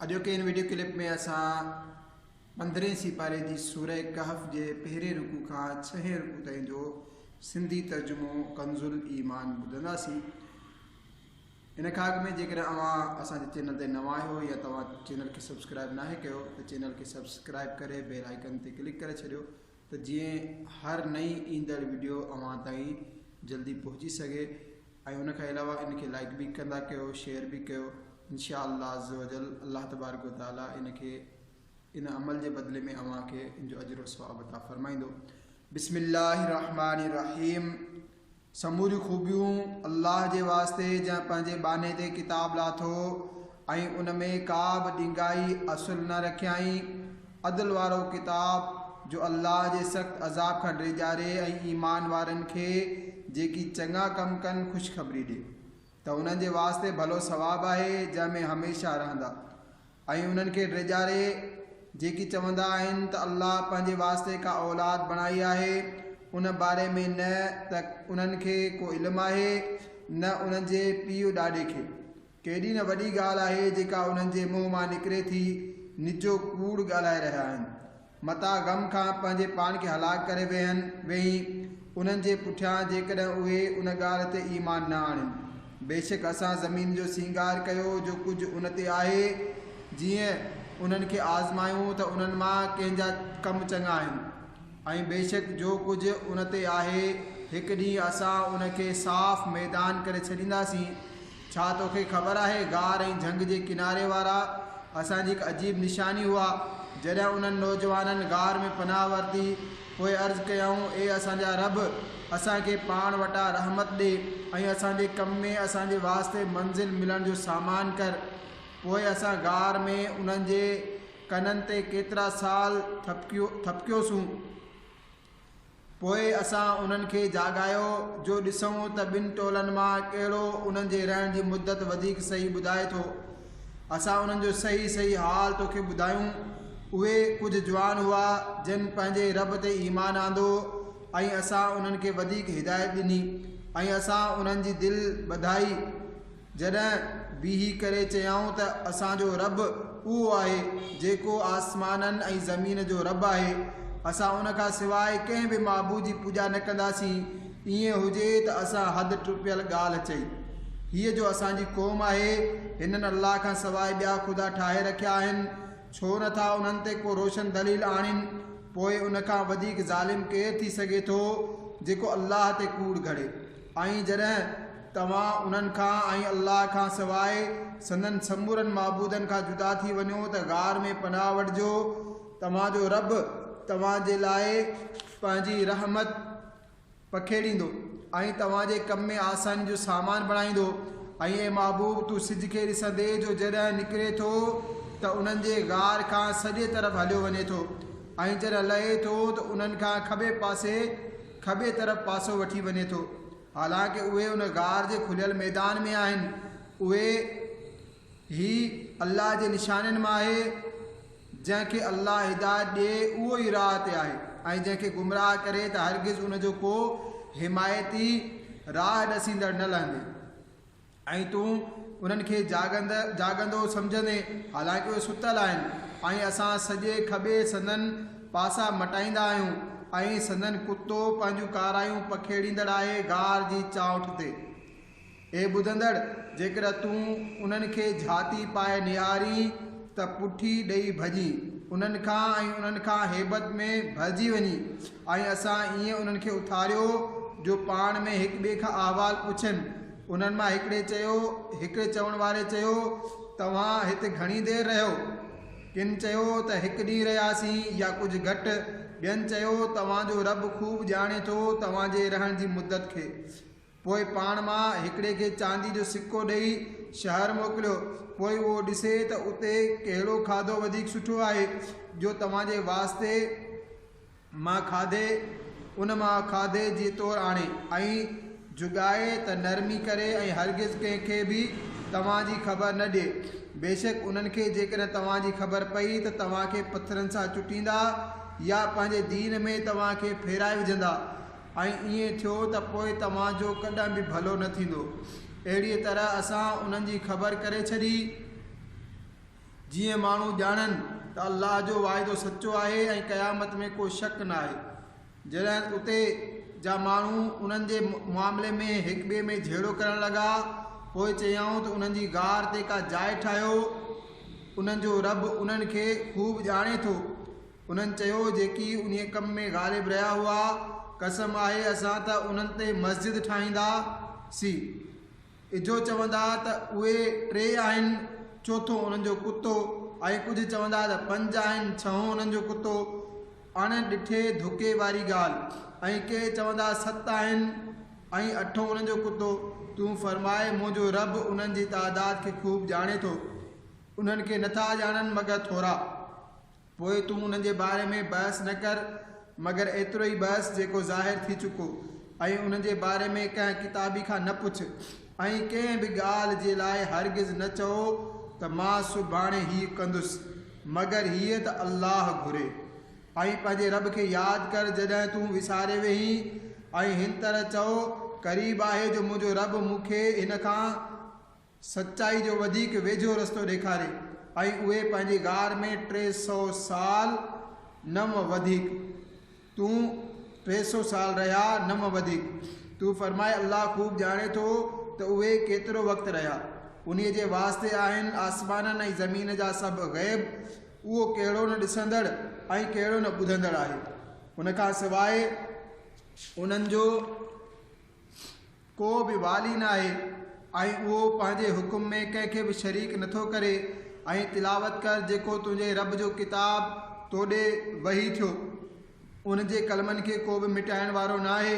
اڄوڪي ان video clip ۾ اسان پندرهين سيپاري جي سوره ڪهف جي پهرين رڪوع کان ڇهين رڪوع تائين جو سنڌي ترجمو ڪنزالايمان ٻڌنداسين ان کان اڳ ۾ جيڪڏهن اوهان اسان جي چينل تي نوان آهيو يا توهان چينل کي سبسڪرائب ناهي ڪيو ته چينل کي سبسڪرائب ڪري بيل آئيڪن تي ڪلڪ ڪري ڇڏيو ته جيئن هر نئين ايندڙ وڊيو اوهان تائين جلدي پهچي سگهي ۽ ان کان علاوه ان کي لائيڪ به ڪندا ڪيو شيئر به ڪيو انشاء الله عزّوجلّ الله تبارڪ و تعالٰي ان کي ان عمل جي بدلي ۾ اوهان کي ان جو اجر و ثواب عطا فرمائيندو بسم الله الرحمٰن الرحيم سموريون خوبيون الله جي واسطي جنهن پنهنجي ٻانهي تي ڪتاب لاٿو ۽ ان ۾ ڪا به ڏينگائي اصل نه رکيائين، عدل وارو ڪتاب، جو الله جي سخت عذاب کان ڊيڄاري ۽ ايمان وارن کي جيڪي چڱا ڪم ڪن خوشخبري ڏي ته انهن جي واسطي ڀلو ثواب آهي جنهن ۾ هميشه رهندا. ۽ انهن کي ڊيڄاري جيڪي چوندا آهن ته الله پنهنجي واسطي ڪا اولاد بڻائي آهي ان باري ۾ نه ته انهن کي ڪو علم آهي نه انهن جي پيء ڏاڏي کي. ڪيڏي نه وڏي ڳالهه آهي جيڪا انهن جي منهن مان نڪري ٿي، نجو ڪوڙ ڳالهائي رهيا آهن. متان غم کان پنهنجي پاڻ کي هلاڪ ڪري ويهن ويهين، انهن جي پٺيان جيڪڏهن اهي ان ڳالهه تي ايمان نه آڻين. بيشڪ اسان زمين جو سينگار ڪيو جو ڪجهه ان تي آهي، جيئن، انهن کي آزمايون ته انهن مان ڪنهن جا ڪم چڱا آهن ۽ بيشڪ جو ڪجهه ان تي آهي هڪ ڏينهن اسان ان کي صاف ميدان ڪري ڇڏينداسين ڇا توکي خبر آهي، غار ۽ جهنگ جي ڪناري وارا اسان جي هڪ عجيب نشاني هئا. جڏهن انهن نوجوانن غار ۾ پناهه ورتي، پوء عرض ڪيائون، اي اسان جا رب! اسان کي پاڻ وٽان رحمت ڏي ۽ اسان جي ڪم ۾ اسان جي واسطي منزل ملڻ جو سامان ڪر. پوء اسان غار ۾ انهن جي ڪنن تي ڪيترا سال ٿڦڪيوسون. پوء اسان انهن کي جاڳايو جو ڏسون ته ٻن ٽولن مان ڪهڙو انهن جي رهڻ جي مدت وڌيڪ صحيح ٻڌائي ٿو. اسان انهن جو صحيح صحيح حال توکي ٻڌايون. اهي ڪجهه جوان هئا جن پنهنجي رب تي ايمان آندو ۽ اسان انهن کي وڌيڪ هدايت ڏني ۽ اسان انهن جي دل ٻڌائي. جڏهن بيهي ڪري چيائون ته اسان جو رب اهو آهي جيڪو آسمانن ۽ زمين جو رب آهي، اسان ان کان سواء ڪنهن به معبود جي پوڄا نه ڪنداسين، ائين هجي ته اسان حد ٽپيل ڳالهه چئي هئي جو اسان جي قوم آهي هنن الله کان سواء ٻيا خدا ٺاهي رکيا آهن، ڇو نه ٿا انهن تي ڪو روشن دليل آڻين، پوء ان کان وڌيڪ ظالم ڪير ٿي سگهي ٿو جيڪو الله تي ڪوڙ گهڙي. ۽ جڏهن توهان انهن کان ۽ الله کان سواء سندن سمورن معبودن کان جدا ٿي وڃو ته غار ۾ پناهه وٺجو، توهان جو رب توهان جي لاء پنهنجي رحمت پکيڙيندو ۽ توهان جي ڪم ۾ آساني جو سامان بڻائيندو، ۽ اي محبوب تون سج کي ڏسندي جو جڏهن نڪري ٿو ته انهن جي غار کان سڄي طرف هليو وڃي ٿو ۽ جڏهن لهي ٿو ته انهن کان کٻي پاسي کٻي طرف پاسو وٺي وڃي ٿو. حالانڪ اهي ان غار جي کليل ميدان ۾ آهن. اهي هي الله جي نشانين مان آهي. جنهن کي الله هدايت ڏئي اهو ئي راهه تي آهي ۽ جنهن کي گمراهه ڪري ته هرگز ان جو ڪو حمايتي، راهه ڏسيندڙ، نه لهندي. ۽ تون انهن کي جاڳند جاڳندو سمجهندين، حالانڪ اهي ستل آهن، ۽ اسان سڄي کٻي سندن پاسا مٽائيندا آهيون، ۽ سندن ڪتو پنهنجون ڪارايون پکيڙيندڙ آهي غار جي چانئٺ تي. اي ٻڌندڙ! جيڪڏهن تون انهن کي جهاتي پائي نهارين ته پٺي ڏئي ڀڄين انهن کان، ۽ انهن کان هيبت ۾ ڀرجي وڃين. ۽ اسان ائين انهن کي اٿاريو جو پاڻ ۾ هڪ ٻئي کان احوال پڇن. انهن مان هڪڙي چيو، هڪڙي چوڻ واري چيو، توهان هت گهڻي دير رهيو؟ ڪن چيو ته هڪ ڏينهن رهياسين يا ڪجهه گهٽ، ٻين چيو، توهان جو رب خوب ڄاڻي ٿو توهان جي رهڻ جي مدت کي. پوء پاڻ مان هڪڙي کي چاندي جو سڪو ڏيئي شهر موڪليو، پوء اهو ڏسي ته اتي ڪهڙو کاڌو وڌيڪ سٺو آهي، جو توهان جي واسطي مان کاڌي ان مان کاڌي جي طور آڻي ۽ جڳائي ته نرمي ڪري ۽ هرگز ڪنهن کي به توهان جي خبر نه ڏي، بيشڪ انهن کي جيڪڏهن توهان جي خبر پئي ته توهان کي پٿرن سان چٽيندا يا پنهنجي دين ۾ توهان کي ڦيرائي وجهندا. ۽ ائين ٿيو ته پوء توهان جو ڪڏهن به ڀلو نه ٿيندو. اهڙيء طرح اسان انهن جي خبر ڪري ڇڏي، جيئن ماڻهو ڄاڻن ته الله جو واعدو سچو آهي ۽ قيامت ۾ ڪو شڪ ناهي. جڏهن اتي جا ماڻهو انهن جي معاملي ۾ هڪٻئي ۾ جهيڙو ڪرڻ لڳا، پوء چيائون ته انهن جي غار تي ڪا جاء ٺاهيو، انهن جو رب انهن کي خوب ڄاڻي ٿو. انهن چيو، جيڪي انهيء ڪم ۾ غالب رهيا هئا، قسم آهي اسان ته انهن تي مسجد ٺاهيندا سين. اجهو چوندا ته اهي ٽي آهن، چوٿون انهن جو ڪتو ۽ ڪجهه چوندا ته پنج آهن، ڇهون انهن جو ڪتو. اڻ ڏٺي ڌوڪي واري ڳالهه. ۽ ڪي چوندا ست آهن ۽ اٺون انهن جو ڪتو. تون فرماء، منهنجو رب انهن جي تعداد کي خوب ڄاڻي ٿو. انهن کي نٿا ڄاڻن مگر ٿورا. پوء تون انهن جي باري ۾ بحث نه ڪر مگر ايترو ئي بحث جيڪو ظاهر ٿي چڪو ۽ انهن جي باري ۾ ڪنهن ڪتابي کان نه پڇ ۽ ڪنهن به ڳالهه جي لاء هرگز نه چئو ته مان سڀاڻي هيء ڪندس مگر هيء ته الله گهري ۽ پنهنجي رب کي ياد ڪر جڏهن تون وساري ويهين ۽ هن طرح چئو قريب آهي جو منهنجو رب مون کي هن کان سچائي جو وڌيڪ ويجهو رستو ڏيکاري ۽ اهي پنهنجي غار ۾ ٽي سؤ سال نم وڌيڪ تون ٽي سؤ سال رهيا نم وڌيڪ تون فرماء الله خوب ڄاڻي ٿو ته اهي ڪيترو وقت رهيا انهي جي واسطي آهن آسمانن ۽ زمين جا سڀ غيب اهو ڪهڙو نه ڏسندڙ ۽ ڪهڙو نه ٻڌندڙ آهي ان کان سواء انهن جو ڪو به والي ناهي ۽ اهو پنهنجي حڪم ۾ ڪنهن کي به شريڪ نٿو ڪري ۽ تلاوت ڪر جيڪو تنهنجي رب جو ڪتاب تو ڏي وحي ٿيو ان جي ڪلمن کي ڪو به مٽائڻ وارو ناهي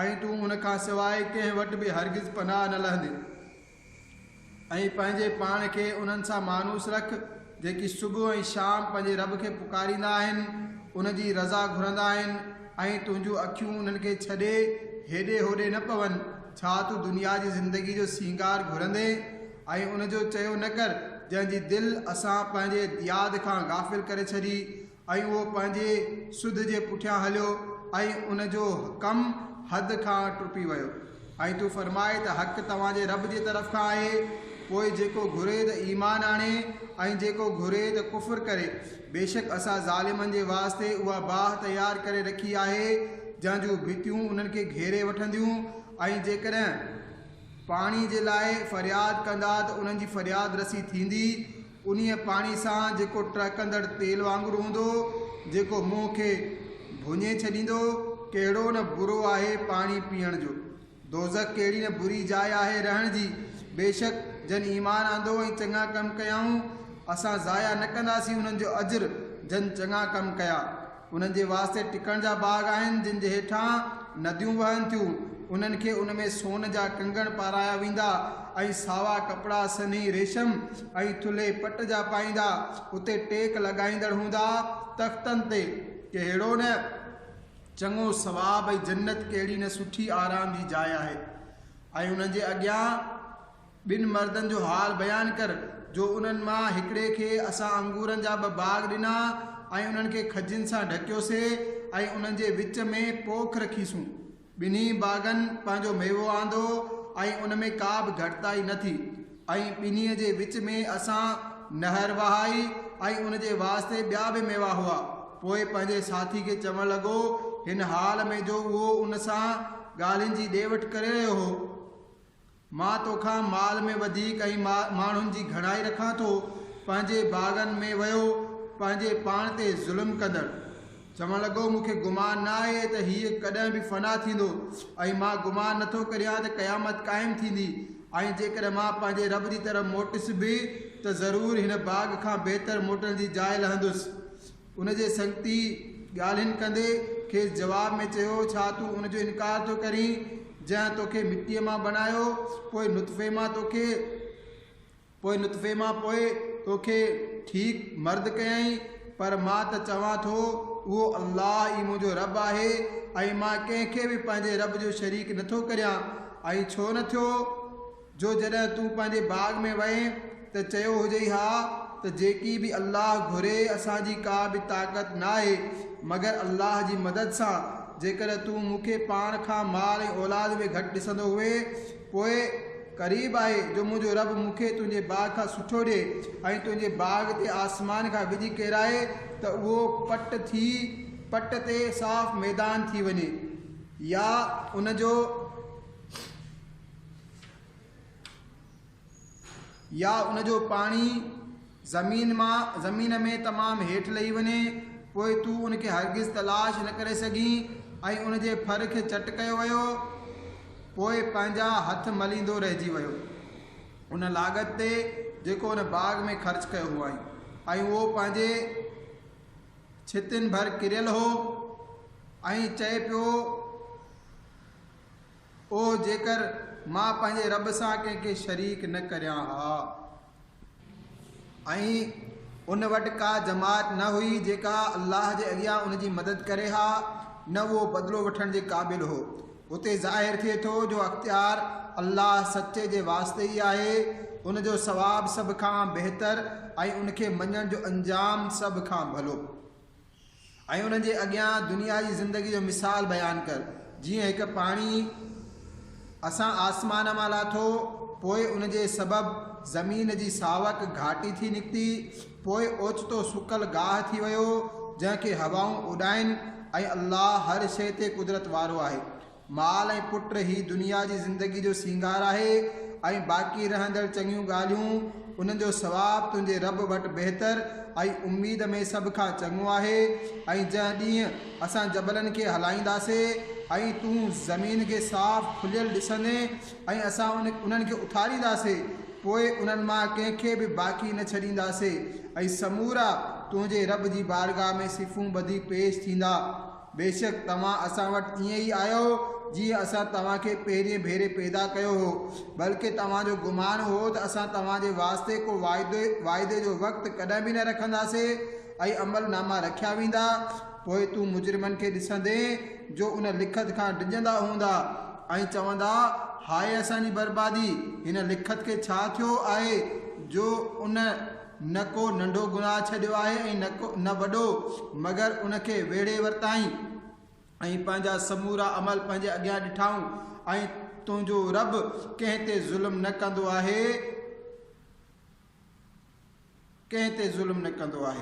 ۽ تون ان کان سواء ڪنهن وٽ به هرگز پناهه نه لهندين. ۽ پنهنجي پاڻ کي انهن سان مانوس رک، جيڪي صبح ۽ شام پنهنجي رب کي پڪاريندا آهن، ان جي رضا گهرندا آهن ۽ تنهنجون اکيون انهن کي ڇڏي هيڏي هوڏي نه پون، ڇا تون دنيا جي زندگيء جو سينگار گهرندين ۽ ان جو چيو نه ڪر، جنهن جي دل اسان پنهنجي ياد کان غافل ڪري ڇڏي. ۽ اهو پنهنجي سڌ جي پٺيان هليو ۽ ان جو حڪم حد کان ٽپي ويو. ۽ تون فرماء ته حق توهان جي رب جي طرف کان آهي، پوء جيڪو گهري ته ايمان آڻي ۽ جيڪو گهري ته ڪفر ڪري، بيشڪ اسان ظالمن جي واسطي اها باهه تيار ڪري رکي آهي جنهن جون ڀتيون انهن کي گهيري وٺنديون ۽ جيڪڏهن پاڻي جي لاء فرياد ڪندا ته انهن جي فرياد رسي ٿيندي انهيء پاڻي سان جيڪو ٽهڪندڙ تيل وانگر هوندو، جيڪو منهن کي ڀڃي ڇڏيندو، ڪهڙو نه برو آهي پاڻي پيئڻ جو. دوزخ ڪهڙي نه بري جاء آهي رهڻ جي. بيشڪ جن ايمان آندو ۽ چڱا ڪم ڪيائون، اسان ضايع نه ڪنداسين انهن جو اجر جن چڱا ڪم ڪيا. انهن جي واسطي ٽڪڻ جا باغ آهن، جن جي هيٺان نديون وهن ٿيون. انهن کي ان ۾ سون جا ڪنگڻ پارايا ويندا ۽ ساوا ڪپڙا سنهي ريشم ۽ ٿلهي پٽ جا پائيندا. اتي ٽيڪ لڳائيندڙ هوندا تختن تي. ڪهڙو نه چڱو ثواب ۽ جنت ڪهڙي نه سٺي آرام جي جاء آهي ۽ انهن جي اڳيان. ٻن مردن جو حال بيان ڪر، جو انهن مان هڪڙي کي اسان انگورن جا ٻه باغ ڏنا، ۽ انهن کي کجين سان ڍڪيوسين، ۽ انهن جي وچ ۾ پوک رکيسون. ٻنهي باغن پنهنجو ميوو آندو، ۽ ان ۾ ڪا به گهٽتائي نه ٿي، ۽ ٻنهي جي وچ ۾ اسان نهر وهائي، ۽ ان جي واسطي ٻيا به ميوا هئا. پوء پنهنجي ساٿي کي چوڻ لڳو، هن حال ۾ جو اهو ان سان ڳالهين جي ڏي وٺ ڪري رهيو هو، مان توکان مال ۾ وڌيڪ ۽ ماڻهن جي گهڻائي رکان ٿو، پنهنجي باغن ۾ ويو، پنهنجي پاڻ تي ظلم ڪندڙ. چوڻ لڳو، مون کي گمان نه آهي ته هيء ڪڏهن به فنا ٿيندو ۽ مان گمان نه ٿو ڪريان ته قيامت قائم ٿيندي ۽ جيڪڏهن مان پنهنجي رب جي طرف موٽس به ته ضرور هن باغ کان بهتر موٽڻ جي جاء لهندس. ان جي سنگتي ڳالهين ڪندي کيس جواب ۾ چيو، ڇا تون ان جو انڪار ٿو ڪرين، جنهن توکي مٽيء مان بڻايو، پوء نطفي مان توکي، پوء نطفي مان پوء توکي ٺيڪ مرد ڪيائين، پر مان ته چوان ٿو، اهو الله ئي منهنجو رب آهي ۽ مان ڪنهن کي به پنهنجي رب جو شريڪ نٿو ڪريان ۽ ڇو نه ٿيو؟ جو جڏهن تون پنهنجي باغ ۾ وئين ته چيو هجئي ها ته جيڪي به الله گهري اسان جي ڪا به طاقت ناهي مگر الله جي مدد سان جيڪڏهن تون مون کي پاڻ کان مال ۽ اولاد ۾ گهٽ ڏسندو هئين پوء قريب آهي جو منهنجو رب مون کي تنهنجي باغ کان سٺو ڏئي ۽ تنهنجي باغ تي آسمان کان وڄ ڪيرائي ته اهو پٽ ٿي پٽ تي صاف ميدان ٿي وڃي يا ان جو يا ان جو پاڻي زمين مان زمين ۾ تمام هيٺ لهي وڃي پوء تون ان کي هرگز تلاش نه ڪري سگهين ۽ ان جي ڦر کي چٽ ڪيو ويو پوء پنهنجا هٿ مليندو رهجي ويو ان لاڳت تي جيڪو ان باغ ۾ خرچ ڪيو هئائين ۽ اهو پنهنجي ڇتين ڀر ڪريل هو ۽ چئي پيو اوه جيڪر مان پنهنجي رب سان ڪنهن کي شريڪ نه ڪريان ها ۽ ان وٽ ڪا جماعت نه هئي جيڪا الله جي اڳيان ان جي مدد ڪري ها نه اهو بدلو وٺڻ جي قابل هو اتي ظاهر ٿئي ٿو جو اختيار الله سچي جي واسطي ئي آهي ان جو ثواب سڀ کان بهتر ۽ ان کي مڃڻ جو انجام سڀ کان ڀلو. ۽ انهن جي اڳيان دنيا جي زندگي جو مثال بيان ڪر، جيئن هڪ پاڻي اسان آسمان مان لاٿو، پوء ان جي سبب زمين جي ساوڪ گهاٽي ٿي نڪتي، پوء اوچتو سڪل گاهه ٿي ويو، جنهن کي هوائون اڏائين، ۽ الله هر شيء تي قدرت وارو آهي. مال ۽ پٽ هي دنيا جي زندگي جو سينگار آهي ۽ باقي رهندڙ چڱيون ڳالهيون، انهن جو ثواب تنهنجي رب وٽ بهتر ۽ اميد ۾ سڀ کان چڱو آهي ۽ جنهن ڏينهن اسان جبلن کي هلائينداسين ۽ تون زمين کي صاف کليل ڏسندين ۽ اسان انهن کي اٿارينداسين پوء انهن مان ڪنهن کي به باقي نه ڇڏينداسين ۽ سمورا تنهنجي رب جي بارگاهه ۾ صفون ٻڌي پيش ٿيندا. بيشڪ توهان اسان وٽ ائين ئي آيا آهيو جيئن اسان توهان کي پهرئين ڀيري پيدا ڪيو هو، بلڪه توهان جو گمان هو ته اسان توهان جي واسطي ڪو واعدي، واعدي جو وقت، ڪڏهن به نه رکنداسين ۽ عمل ناما رکيا ويندا، پوء تون مجرمن کي ڏسندين جو ان لکت کان ڊڄندا هوندا ۽ چوندا، هاء اسان جي بربادي! هن لکت کي ڇا ٿيو آهي جو ان. نه ڪو ننڍو گناهه ڇڏيو آهي ۽ نه وڏو، مگر ان کي ويڙهي ورتائين ۽ پنهنجا سمورا عمل پنهنجي اڳيان ڏٺائون ۽ تنهنجو رب ڪنهن تي ظلم نه ڪندو آهي.